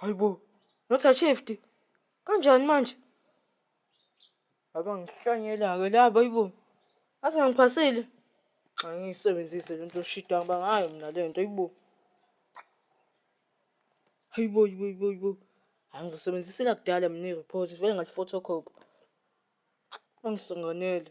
Hayi bo. Not a shifty. Kanjani manje? Abangihlanyela-ke laba ayibo. Aze ngiphasile. Angiyisebenzise lento yoshida ngoba ngayo mina lento ayibo. Hayibo yibo yibo yibo. Angizosebenzisa elakudala mina i-report vele ngathi photocopy. Bangisinganele.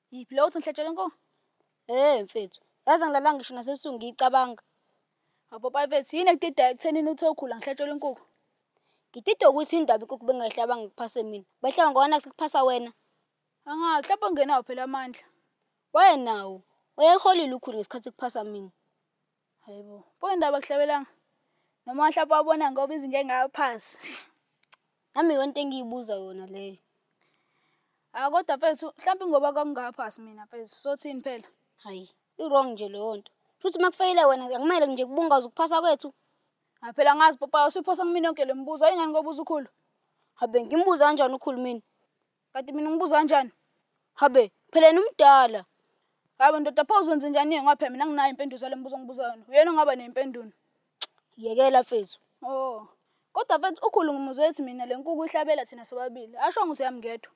Yiphi leyo uthi ngihlatshelwe inkomo? Hey mfethu, yazi angilalanga ngisho nasebusuku ngiyicabanga. Wapopayi mfethu, yini ekudida ekuthenini uthe ukhula ngihlatshelwe inkukhu? Ngididwa ukuthi indaba inkukhu bengayihlaba ngikuphase mina. Bayihlaba ngoba naku sekuphasa wena. Angazi, mhlawumbe ungenawo phela amandla. Wayenawo. Wayeholile ukhulu ngesikhathi kuphasa mina. Hayibo. Pho indaba kuhlabelanga. Noma wahlapha wabona ngoba izinja engaka phansi. Nami yonke engiyibuza yona leyo. Ah kodwa mfethu mhlawumbe ngoba kwakungaphasi mina mfethu. Sothini phela? Hayi, i-wrong nje leyo nto. Futhi uma kufeyile wena akumele nje kubungaza ukuphasa kwethu. Ah phela ngazi papa usiphosa kumina yonke le mibuzo. Ingani ngobuza ukhulu? Habe ngimbuza kanjani ukhulu mina? Kanti mina ngibuza kanjani? Habe, phela yena umdala. Hayi ndoda pho uzenze njani ngoba phela mina nginayo impendulo zale mbuzo ongibuza yona. Uyena ongaba nempendulo. Yekela mfethu. Oh. Kodwa mfethu ukhulu ngimuzwe ethi mina le nkuku ihlabela thina sobabili. Ashongo siyami ngedwa.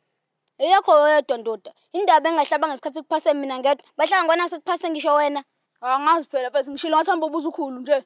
Eyakho wedwa ndoda. Indaba engahlaba ngesikhathi kuphase mina ngedwa. Bahlanga ngona sekuphase ngisho wena. Angazi phela mfethu ngishilo ngathi hamba ubuza ukhulu nje.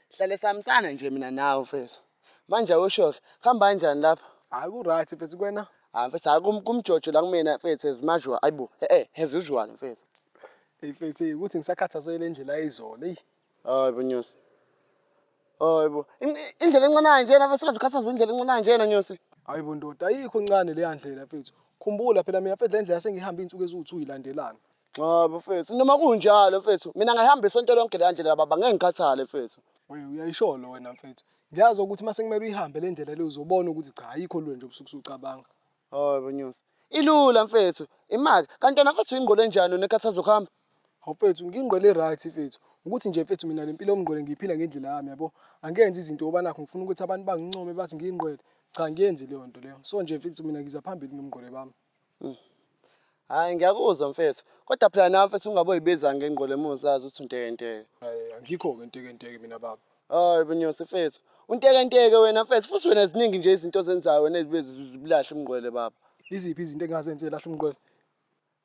Hlale sihambisana nje mina nawe mfethu. Manje awusho kuhamba kanjani lapho? Hayi ku right mfethu kwena. Hayi mfethu hayi kum kumjojo la kumina mfethu as usual. Ayibo eh eh as usual mfethu. Hey mfethu hey ukuthi ngisakhathazwe le ndlela ayizona eyi. Hayi bo Nyosi. Hayi bo. In- Indlela encane kanjena mfethu ungaze ukhathaze indlela encane kanjena Nyosi. Hayi bo ndoda ayikho ncane leya ndlela mfethu. Khumbula phela mina mfethu le ndlela sengihambe iy'nsuku eziwu-two ilandelana. Cha bafethu noma kunjalo mfethu mina ngihamba isonto lonke leya ndlela baba ngeke ngikhathale mfethu. Wewe uyayisholo wena mfethu. Ngiyazi ukuthi uma sekumele uyihambe le ndlela le uzobona ukuthi cha ayikho lula nje ubusuku usucabanga. Hayi bonyusi. Ilula mfethu. Imali kanti wena mfethu ingqondo enjani unekhathazo kuhamba? Hawu mfethu ngingqondo e-right mfethu. Ukuthi nje mfethu mina le mpilo yomngqwele ngiyiphila ngendlela yami yabo. Angenzi izinto ngoba nakho ngifuna ukuthi abantu bangincome bathi ngiyingqwele. Cha angiyenzi leyo nto leyo. So nje mfethu mina ngiza phambili nomngqwele bami. Hmm. Hayi ngiyakuzwa mfethu. Kodwa phela nawe mfethu ungaboyibiza ngengqole uma uzazi ukuthi untekenteke. Hayi angikho-ke ntekenteke mina baba. Hayi bunyosi mfethu. Untekenteke wena mfethu futhi wena ziningi nje izinto ozenzayo wena ezibe zibulahle umngqwele baba. Iziphi izinto engingazenze lahle umngqwele?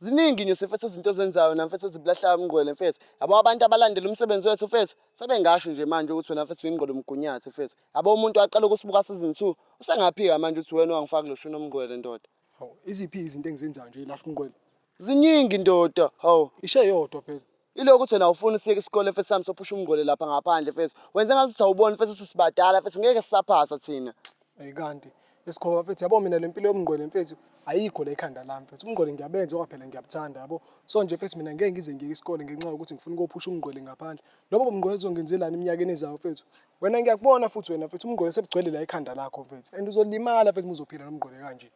Ziningi nyosi mfethu izinto ozenzayo wena mfethu ezibulahlayo umngqwele mfethu. Yabo abantu abalandela umsebenzi wethu mfethu sebengasho nje manje ukuthi wena mfethu uyingqolo mgunyathi mfethu. Yabo umuntu waqala ukusibuka season 2 usengaphika manje uthi wena wangifaka lo shuni omngqwele ndoda. Hawu iziphi izinto engizenzayo nje la umngqwele? Ziningi ndoda. Hawu. Ishe yodwa phela. Ilokho ukuthi wena awufuni siyeke isikole mfethu sami sophusha umngqwele lapha ngaphandle mfethu. Wenze ngathi uthi awuboni mfethu ukuthi sibadala mfethu ngeke sisaphasa thina. Hey kanti esikhoba mfethu yabo mina lempilo yomngqwele mfethu ayikho la ekhanda lami mfethu umngqwele ngiyabenza ngoba phela ngiyabuthanda yabo so nje mfethu mina ngeke ngize ngiyeke isikole ngenxa yokuthi ngifuna ukuyophusha umngqwele ngaphandle lobo mngqwele uzongenzelani eminyakeni ezayo mfethu Wena ngiyakubona futhi wena mfethu umngqole sebugcwele la ekhanda lakho mfethu and uzolimala mfethu muzophila nomngqole kanje.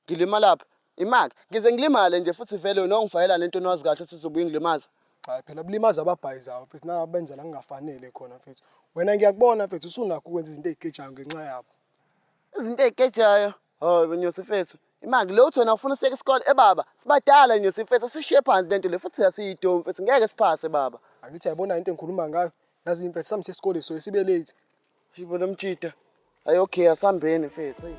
Ngilimalaphi? Imake ngize ngilimale nje futhi vele wena ongifakela lento nawazi kahle ukuthi uzobuye ungilimaza. Cha phela bulimaza ababhayizayo mfethu nalaba benza la kungafanele khona mfethu. Wena ngiyakubona mfethu usunakho ukwenza izinto ezigejayo ngenxa yabo. Izinto ezigejayo? Oh nyosi mfethu, imaki lo uthi wena ufuna usiyeka isikole ebaba. Eh, Sibadala nyosi mfethu, sishiye phansi lento le futhi asiyidomi mfethu, ngeke siphase baba. Angithi yayibona into engikhuluma ngayo. Yazi imfethu sami sesikole so sibe late. Yibo lo mjita. Ayi okay asambeni mfethu. Ayi.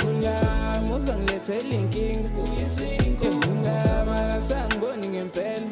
Unyama uzangilethela inkinga. Unyama akasangiboni ngempela.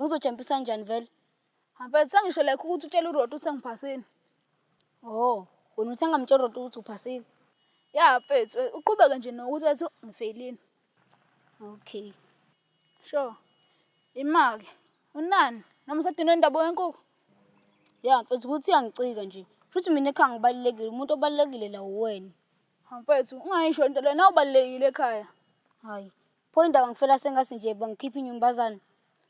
Ngizojampisani njani vele? Mfethu sengisho like ukuthi utshela uRoti ukuthi sengiphasile. Oh, wena uthe ngamtshela uRoti ukuthi uphasile? Ya mfethu, uqhubeke nje nokuthi wathi ngifeyilile. Okay. Sure. Imake. Unani? Noma usadinwe indaba yenkukhu? Ya mfethu ukuthi uyangicika nje. Futhi mina ekhaya ngibalulekile, umuntu obalulekile la uwena. Mfethu, ungayisho into lena ubalulekile ekhaya. Hayi, Pho indaba ngifela sengathi nje bangikhipha inyumbazane.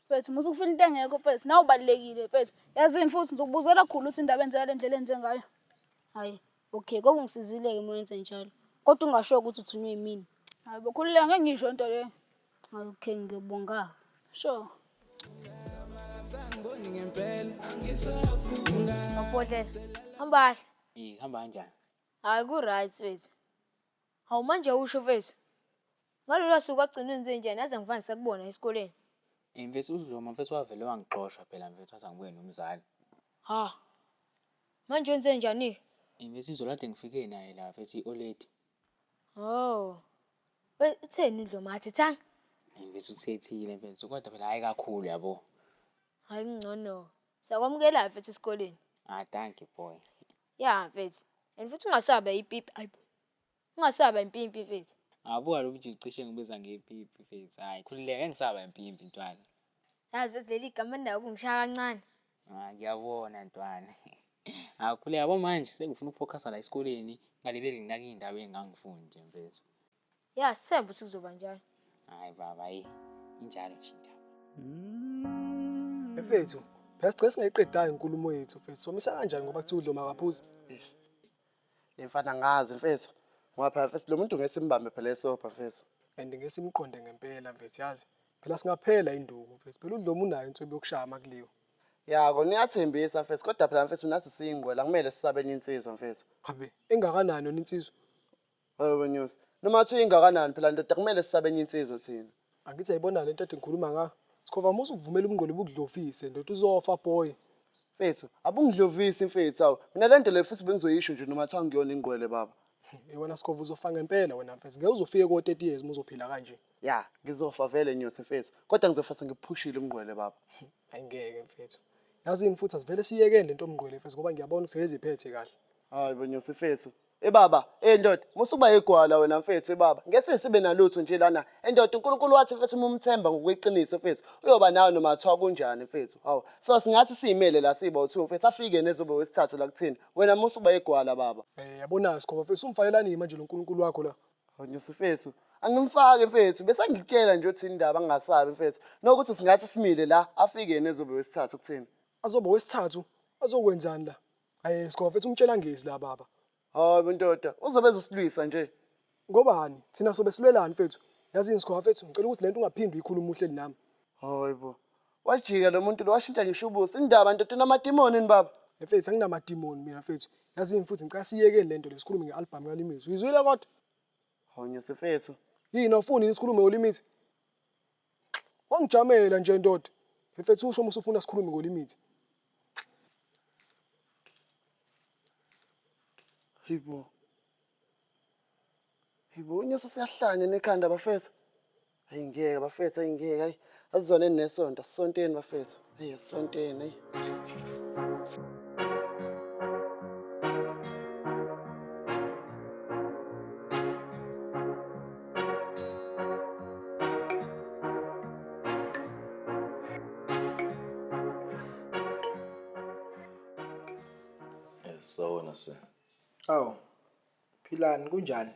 Mfethu musa ukufila into engekho mfethu nawe ubalekile mfethu. Yazini futhi ngizokubuzela khulu ukuthi indaba enzeka lendlela enze ngayo. Hayi, okay kodwa ungisizile ke mwenze njalo. Kodwa ungasho ukuthi uthunywe yimini. Hayi bokhululeka ngeke ngisho into leyo. Hayi okay ngiyobonga. Sure. Mabhodlela. Hamba kahle. Eh hamba kanjani? Hayi ku-right wethu. Hawu manje usho mfethu. Ngalolo suku wagcina wenze njani yazi angivani sakubona esikoleni. Ey mfethu uDloma mfethu wavele wangixosha phela mfethu wathi angibuye nomzali. Ha. Manje wenze njani-ke? Ey mfethu izolo kade ngifike naye la mfethu i-oledi. Hawu. We utheni uDloma akathethanga? Ey mfethu uthethile mfethu kodwa phela hhayi kakhulu yabo. Hhayi kungcono-ke. Sakwamukela-ke mfethu esikoleni. Ah dankie boy. Ya mfethu. And futhi ungasaba ipipi. Hayi. Ungasaba impimpi mfethu. Abuka lo mjulu cishe ngibiza ngepipi mfethu. Hayi khululeka engisaba impimpi ntwana. Yazi mfethu leli gama nayo kungishaya kancane. Ah ngiyabona ntwana. Akhuleka yabo manje sengifuna ukufocus la esikoleni ngalibeli nginake indaba engangifundi mfethu. Ya sithemba ukuthi kuzoba njalo. Hayi baba yi injalo nje indaba. Mfethu, phela sigcina singayiqedayo inkulumo yethu mfethu. Somisa kanjani ngoba kuthiwa udloma akaphuzi? Le mfana ngazi mfethu. Ngoba phela mfethu lo muntu ngeke simbambe phela esobha mfethu. And ngeke simqonde ngempela mfethu yazi. Phela singaphela induku mfethu. Phela udloma unayo insuku yokushaya amakuliwe. Ya kona uyathembisa mfethu kodwa phela mfethu nathi siyingqwele akumele sisabe enye insizwa mfethu. Habe engakanani yona insizwa? Hawu wenyusi. Noma kuthiwa ingakanani phela ndoda kumele sisabe enye insizwa thina. Angithi yayibona lento ade ngikhuluma nga. Skhova musa ukuvumela ubungqondo bukudlovise ndoda uzofa boy. Mfethu abungidlovisi mfethu awu mina lento le futhi bengizoyisho nje noma kuthiwa ngiyona ingqwele baba. Hey wena Skhova uzofa ngempela wena mfethu ngeke uzofike ko 30 years muzophila kanje. Ya ngizofa vele nyosi mfethu kodwa ngizofa sengiphushile ubungqwele baba. Hayi ngeke mfethu. Yazini futhi asivele siyekeni lento yobungqwele mfethu ngoba ngiyabona ukuthi seyeziphethe kahle. Hayi bo nyosi mfethu Ebaba, Ey ndoda musuba igwala wena mfethu ebaba ngeke sibe nalutho nje lana endoda uNkulunkulu wathi mfethu uma umthemba ngokweqiniso mfethu uyoba nawe noma kuthiwa kunjani mfethu hawu so singathi siyimele la siyibawu two mfethu afike nezobe wesithathu la kuthina wena musuba igwala baba. Eh yabona Skhova mfethu umfakelani manje lo Nkulunkulu wakho la. Nyosi mfethu angimfaki mfethu besengikutshela nje uthini indaba angingasabi mfethu nokuthi singathi simile la afike yena ezobe wesithathu kuthina. Azoba wesithathu azokwenzani la. Aye Scoff ethi umtshela ngezi la baba. Hayi bondoda, uzobe ezosilwisa nje. Ngobani? Thina sobe silwelani mfethu? Yazini Scoff mfethu ngicela ukuthi lento ungaphindi uyikhulume uhleli nami. Hayi bo. Wajika lo muntu lo washintsha ngisho ubuso. Indaba ndoda unamadimoni ni baba? Mfethu anginamadimoni mina mfethu. Yazini futhi ngicela siyekeni lento le sikhulume nge-album kaLimizwe. Uyizwile kodwa? Hawu nyosifethu. Yini awufuni yini sikhulume uLimizwe? Wangijamela nje ndoda. Mfethu usho musa ufuna sikhulume ngolimithi. Hibo. Hibo unyeso siyahlanya nekhanda bafethu. Hayi ngeke bafethu hayi ngeke hayi. Asizwane nesonto, sisonteni bafethu. Ayi asonto yena. Sawona se. Awu. Philani kunjani?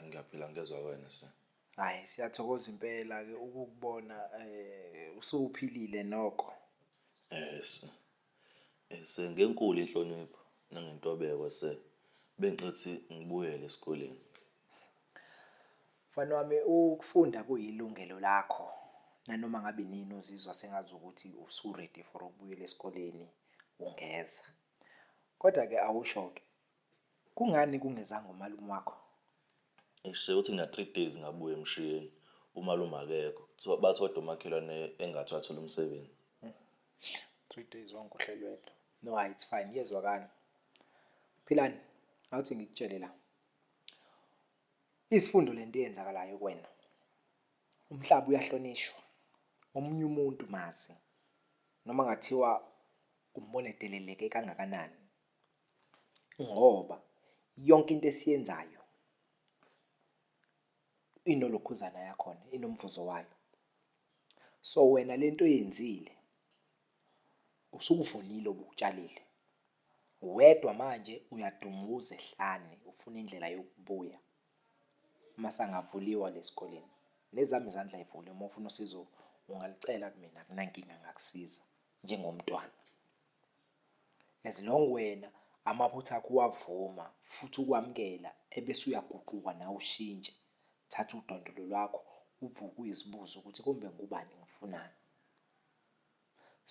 Ngiyaphila ngezwa wena se. Hhayi siyathokoza impela-ke ukukubona um usuphilile noko. Yes. Sir ngenkulu inhlonipho nangentobeko sir. Bengicela ukuthi ngibuyele esikoleni. Mfana wami ukufunda kuyilungelo lakho nanoma ngabe inini uzizwa sengazi ukuthi usu-ready for ukubuyela esikoleni ungeza. Kodwa-ke awusho-ke Kungani kungezanga umalume wakho? Eish sekuthi ngina three days ngabuya emshiyeni umalume akekho. Kuthiwa bathi kodwa umakhelwane engathi wathola umsebenzi. Three days wangikhohlelwa wedwa. No hayi it's fine iyezwakala. Philani awuthi ngikutshele la. Isifundo lento eyenzakalayo kuwena. Umhlaba uyahlonishwa. Omunye umuntu mazi noma ngathiwa umbone deleleke kangakanani. ngoba yonke into esiyenzayo inolokhuzana yakhona inomvuzo wayo. So wena lento oyenzile usukuvunile obukutshalile wedwa manje uyadunguza ehlane ufuna indlela yokubuya masangavuliwa lesikoleni. Nezami izandla y'vuliwe uma ufuna usizo ungalicela kumina akunankinga ngakusiza njengomntwana. As long wena amaphutha akho uwavuma futhi ukwamukela ebese uyaguquka nawe ushintshe. Thatha udondolo lwakho uvuke uyizibuze ukuthi kumbe ngubani ngifunani.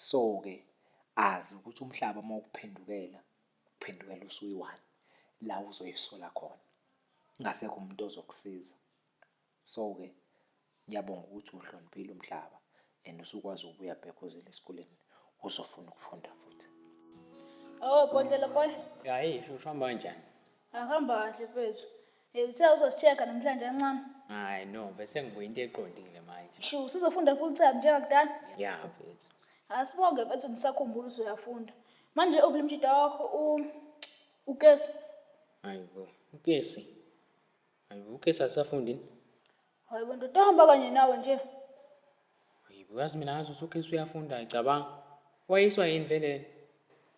So-ke azi ukuthi umhlaba uma ukuphendukela uphendukela usuyi-one la uzoyisola khona. Kungasekho umuntu ozokusiza. So ke ngiyabonga ukuthi uhloniphile umhlaba and usukwazi ukubuya back uzele esikoleni uzofuna ukufunda futhi. Oh bhodlela boy. Hayi futhi uhamba kanjani? Ahamba kahle mfethu. Eh uthe uzosicheka namhlanje kancane. Hayi no bese ngibuye into eqondile manje. Sho usizofunda full time njengakudala? Ya mfethu. Asibonge mfethu ngisakhumbula usuyafunda. Manje obulimjida wakho u ukesi. Hayi bo. Ukesi. Hayibo uKhethi akasafunda yini? Hayibo ndoda hamba kanye nawe nje. Hayibo yazi mina ngazi ukuthi uKhethi uyafunda ayicabanga. Wayiswa yini vele yena?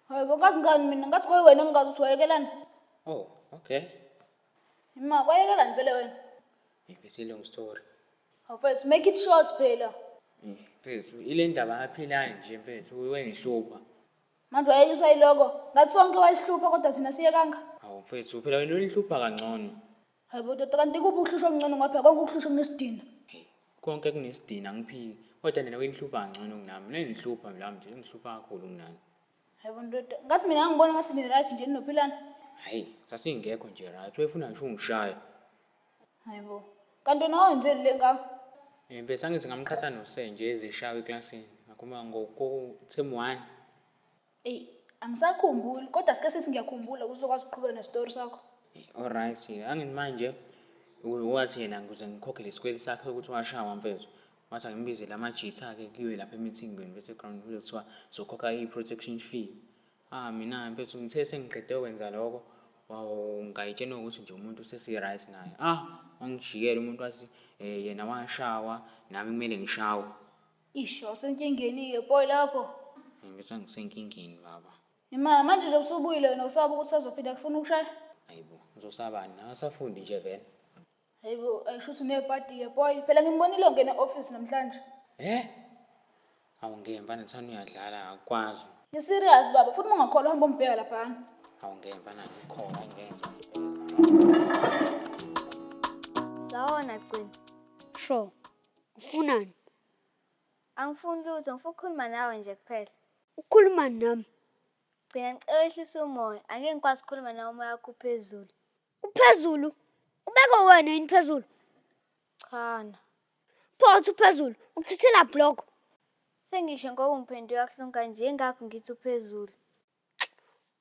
Hayibo ngazi ngani mina ngathi kwayiwena engingazi ukuthi wayekelani. Oh, okay. Ima kwayekelani vele wena? Hey, it's a long story. Awufethu make it short phela. Mfethu, ile ndaba aphilani nje mfethu, wengihlupha. Manje wayekiswa iloko. Ngathi sonke wayesihlupha kodwa thina siyekanga. Hawu mfethu phela wena ulihlupha kangcono. Hayibo tata kanti kuphi ukuhlushwa okungcono ngapha konke ukuhlushwa kunesidina. Hey, konke kunesidina ngiphiki. Kodwa nina wenihlupha kangcono kunami. Mina ngihlupha la mnje, ngihlupha kakhulu kunani. Hayibo ndoda. Ngathi mina ngangibona ngathi ni-right nje ninophilana. Hayi, sasingekho nje right. Wayefuna ngisho ungishaya. Hayi bo. Kanti wena wenzeni le ngaka? Eh mfethu angithi ngamqhatha nosenje ezeshawa eklasini. Ngakhuluma ngoko term 1. Ey, angisakhumbuli kodwa sike sithi ngiyakhumbula kuzokwazi ukuqhubeka nestory sakho. Eh, Alright, angithi manje u- wathi yena ngikuze ngikhokhe lesikweli sakhe ukuthi washawa mfethu. Wathi angimbizele amajitha akhe kuyiwe lapha emithingbeni bese ground kuthiwa zokhokha i-protection fee. Ah mina mfethu ngithe sengiqede kwenza lokho ngayitshena ukuthi nje umuntu usesi-right naye. Ah wangijikela umuntu wathi eh, yena washawa nami kumele ngishawe. Ish awusenkingeni-ke boy lapho. Ngibetha ngisenkingeni baba. Ima manje nje usubuyile wena usaba ukuthi sazophinda kufuna ukushaya. Hayibo ngizosabani nakasafundi nje vele. Hayibo, ayisho ukuthi unepati-ke boy. Phela ngimbonile ongena e-office namhlanje. Eh? Awu ngemva nethani uyadlala akwazi. Ngiserious baba, futhi ungakholwa hamba umbheka laphana. Awu ngemva nani ukhona ngenza. Sawona gcina. Sho. Ufunani? Angifuni lutho, ngifuna ukukhuluma nawe nje kuphela. Ukhuluma nami. Gcina ngicela wehlise umoya, angeke ngikwazi ukukhuluma nawe umoya wakho uphezulu. Uphezulu. Ubeke wena yini phezulu? Chana. Pho uthi uphezulu, ukuchithela block. Sengisho ngoba ungiphendula kabuhlungu kanje ingakho ngithi uphezulu.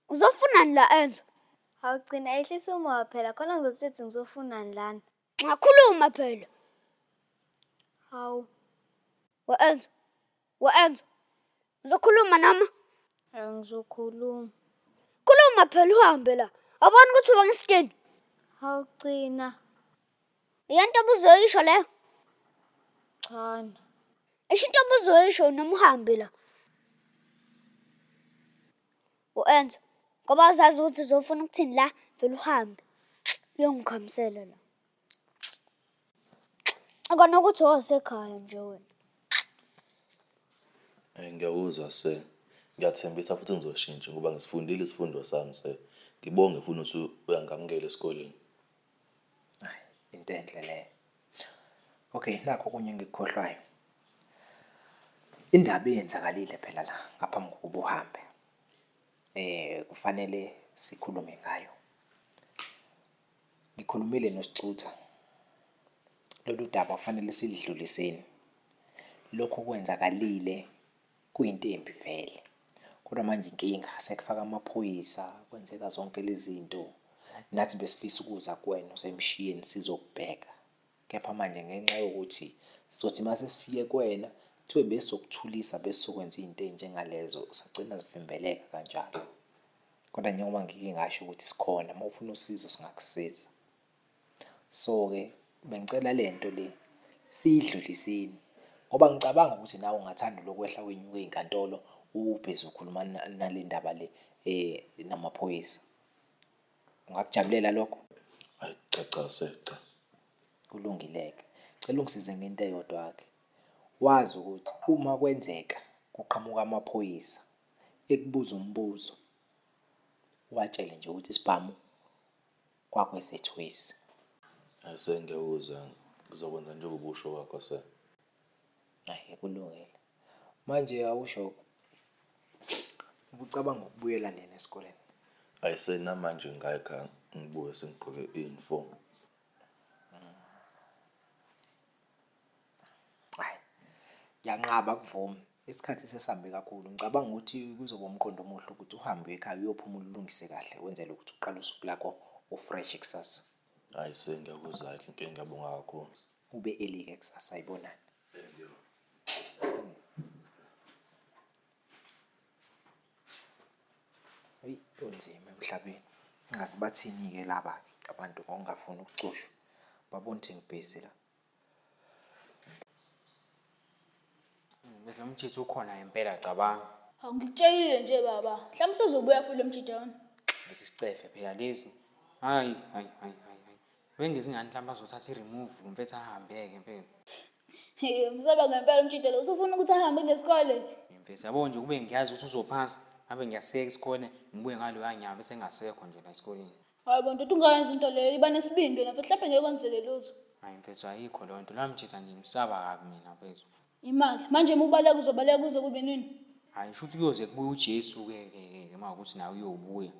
Uzofunani la Enzo? Awugcina ehlisa umoya phela khona ngizokuthetha ngizofunani lana. Ngakhuluma phela. Hawu. We-Enzo, Wenzo, ngizokhuluma noma? Angizokhuluma. Khuluma phela uhambe la. Awuboni ukuthi uba ngisidini? Awugcina. Yento obuzoyisho leyo? Chana. Isho into obuzoyisho noma uhambe la. U-Enzo, ngoba uzazi ukuthi uzofuna ukuthini la, vele uhambe. Uyongikhamisela la. Kona ukuthi owasekhaya nje wena. Eyi ngiyakuzwa sir. Ngiyathembisa futhi ngizoshintsha ngoba ngisifundile isifundo sami sir. Ngibonge futhi nokuthi uyangamukela esikoleni. Ayi into enhle leyo. Okay nakho okunye engikukhohlwayo. Indaba eyenzakalile phela la ngaphambi kokuba uhambe kufanele sikhulume ngayo. Ngikhulumile noSicutha lolu daba kufanele silidluliseni. Lokhu okwenzakalile kuyinto embi vele, kodwa manje inkinga sekufaka amaphoyisa kwenzeka zonke lezi zinto. Nathi besifisa ukuza kuwena usemshiyeni sizokubheka, kepha manje ngenxa yokuthi sizothi uma sesifike kuwena kuthiwe besizokuthulisa besizokwenza izinto ezinjengalezo sagcina zivimbeleka kanjalo. Kodwa njengoba ngike ngasho ukuthi sikhona uma ufuna usizo singakusiza. So-ke bengicela le nto le siyidluliseni ngoba ngicabanga ukuthi nawe ungathanda lokwehla wenyuke inkantolo ubhezi ukhuluma nale ndaba le um namaphoyisa. Ungakujabulela lokho? Ayi cha cha secha. Kulungile-ke, cela ungisize ngento eyodwa-ke. Wazi ukuthi uma kwenzeka kuqhamuka amaphoyisa ekubuza umbuzo ubatshele nje ukuthi isibhamu kwakwesethu waze. Ase ngiyakuzwa ngizokwenza njengoba usho kwakho sir. Ahe kulungile. Manje awusho ubucabanga ukubuyela nini esikoleni? Ayise namanje ngayikha ngibuye sengigqoke i-uniform. Ayi ngiyanqaba akuvumi isikhathi sesihambe kakhulu, ngicabanga ukuthi kuzoba umqondo omuhle ukuthi uhambe uye ekhaya uyophumula ulungise kahle wenzele ukuthi uqale usuku lakho u-fresh kusasa. Ayi sir ngiyakuzwa-ke Mfeka ngiyabonga kakhulu. Ube early-ke kusasa ayibona. Eyi kunzima emhlabeni. Ingazi bathini-ke laba abantu ngokungafuni ukucushwa. Babona ukuthi ngibhizi la. Lo mjitha ukhona ngempela cabanga. Hawu ngikutshelile nje baba. Mhlawumbe usezobuya futhi lo mjita lona. Lesi sicefe phela lesi. Hhayi, hhayi, hhayi, hhayi, hhayi. Bengezi ngani mhlawumbe azothatha i-remove lo mfethu ahambe-ke impela. Hheyi umsaba ngempela umjita lo usufuna ukuthi ahambe ngesikole. Mfethu yabo nje kube ngiyazi ukuthi uzophasa ngabe ngiyaseka isikole ngibuye ngaloya nyaka bese engasekho nje la esikoleni. Hayi bo ndoda ungayenza into leyo iba nesibindi wena mfethu mhlawumbe ngeke kwenzeke lutho. Hayi mfethu ayikho leyo nto loya mjita nje ngimsaba kabi mina mfethu. Imali manje uma ubaleka uzobaleka kuze kube nini? Hhayi shuthi kuyoze kubuye uJesu-ke ke ke uma kuwukuthi naye uyobuya.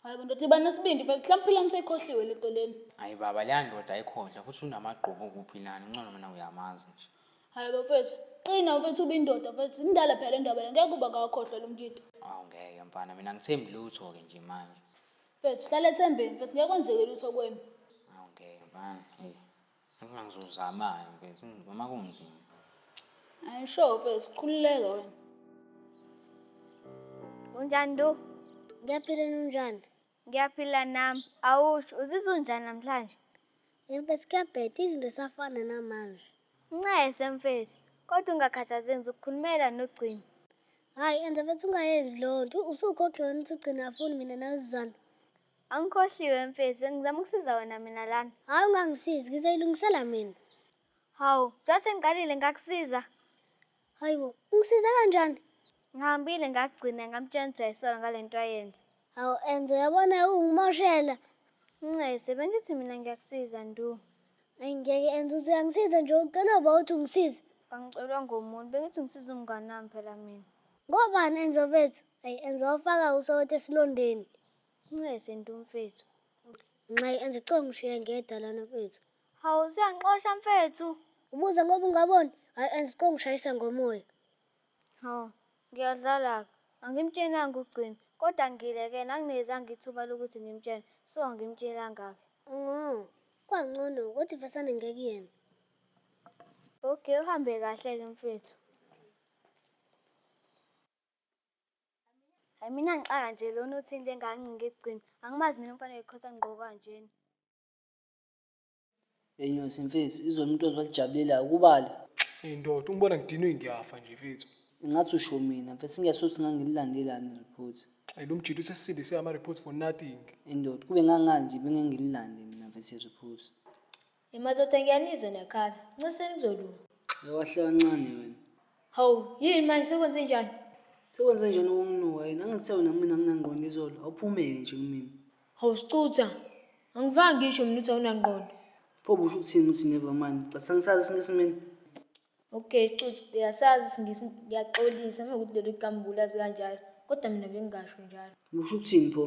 Hayi bo ndoda iba nesibindi phela mhlawumbe philani seyikhohliwe le nto lena. Hayi baba leya ndoda ayikhohlwa futhi unamagqubu kuphilani uncono mina uyamazi nje. Hayi bo mfethu qina mfethu uba indoda mfethu zindala phela le ndaba le ngeke uba ngawakhohlwa lo mkito. Awu ngeke mfana mina angithembi lutho-ke nje manje. Mfethu hlala ethembeni mfethu ngeke kwenzeke lutho kwembi. Awu ngeke mfana eyi. Noma ngizozamani mfethu noma kunzima. Ayi sure mfethu khululeka wena. Unjani Ndu? Ngiyaphila nunjani? Ngiyaphila nami. Awusho uzizwa unjani namhlanje? Mfethu kuyabheda izinto zisafana namanje. Ncese mfethu, kodwa ungakhathazeki ngizokukhulumela nogcina. Hhayi enza mfethu ungayenzi leyo nto. Usukhokhe wena ukuthi ugcina afuni mina nawe sizwane. Angikhohliwe mfethu, ngizama ukusiza wena mina lana. Hayi ungangisizi, ngizoyilungisela mina. Hawu, njengoba sengiqalile ngakusiza. Hayi bo, ungisize kanjani? Ngihambile ngagcina ngamtshela ukuthi uyayisola ngale nto ayenza. Hawu Enzo, uyabona ungimoshela. Ncese, bengithi mina ngiyakusiza ndu. Ayi ngeke Enzo, uthi uyangisiza nje ucela uba uthi ungisize. Kangicelwa ngomuntu, bengithi ngisiza umngane wami phela mina. Ngobani Enzo mfethu? Ayi Enzo wafaka usawoti esilondeni. Ncese nto mfethu. Nxayi enze coo ngishiye ngedwa lana mfethu. Hawu usuyangixosha mfethu. Ubuza ngoba ungaboni. Hayi enze coo ngishayisa ngomoya. Hawu ngiyadlala-ke. Angimtshelanga ugcina kodwa ngilekene anginezanga ithuba lokuthi ngimtshele so angimtshelanga-ke. Oh, kwangcono ukuthi vesane ngekuyena. Okay uhambe kahle-ke mfethu. Hayi mina ngixaka nje lona uthini le ngane ngigcina. Angimazi mina umfana wekhotha ngigqoka kanjena. Yenyosi mfethu izolo umuntu ozwa lijabulile akubali. Hey ndoda ungibona ngidinwe ngiyafa nje mfethu. Ingathi usho mina mfethu singesothi ngangililandelani report. Hey lomjita usesindise ama report for nothing. Indoda kube ngangazi nje bengeke ngililande mina mfethu ireport. Emadoda ngiyanizwa niyakhala. Nciseni kuzolunga. Awahle kancane wena. Hawu, yini manje sekwenze njani? Sekwenze njani ukunginuka yini? Angithe wena mina anginangqondo izolo. Awuphumeke nje kumina. Hawu sicutha. Angivanga ngisho mina uthi awunangqondo. Pho busho ukuthini uthi never mind? Cathi sangisazi isingisi mina. Okay sicutha, uyasazi isingisi ngiyaxolisa mawukuthi lelo kambula zikanjalo. Kodwa mina bengingasho njalo. Busho ukuthini pho?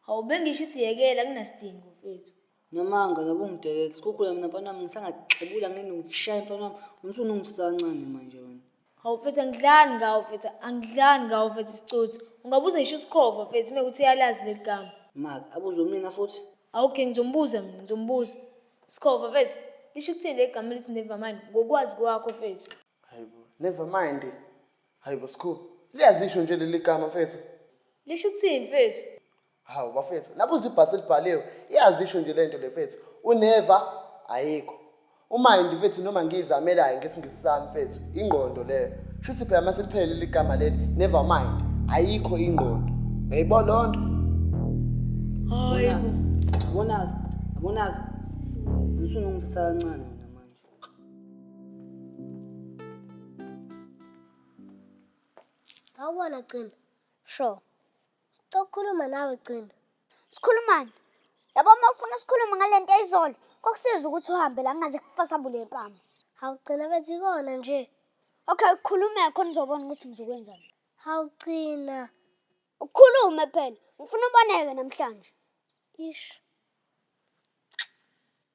Hawu bengisho ukuthi yekela kunasidingo mfethu. Namanga nabo ungidekela sikhukhula mina mfana wami ngisangaxebula ngene ukushaya mfana wami umsunu ungisusa kancane manje wena Hawu mfethu angidlani ngawo mfethu angidlani ngawo mfethu sicotsi. Ungabuza ngisho usikhova mfethu mekuthi uyalazi leli gama. maka abuze mina futhi Awukhe ngizombuza mina ngizombuza. Sikhova mfethu lisho ukuthini leli gama elithi nevamani ngokwazi kwakho mfethu. Hayibo, never mind. Hayibo Skhulu, liyazisho nje leli gama mfethu. Lisho ukuthini mfethu? Hawu bafethu, nabuza ibhasi elibhaliwe, iyazisho nje lento le mfethu. Uneva ayikho. Umayindi mfethu noma ngiyizamelayo ngesingisi sami mfethu, ingqondo leyo. Shuthi phela mase liphele leli gama leli, never mind. Ayikho ingqondo. Yayibo lonto? Hayibo. Yabona-ke, yabona-ke. Ngisungangithatha kancane mina manje. Awubona Gcina. Sho. Cokukhuluma nawe Gcina. Sikhulumani? Yabo uma ufuna sikhulume ngale nto izolo, kokusiza ukuthi uhambe la ngaze kufasa bule mpama. Hawugcina bethi ikona nje. Okay, ukhulume khona uzobona ukuthi ngizokwenzani. Hawugcina. Ukhulume phela. Ngifuna uboneke namhlanje. Ish.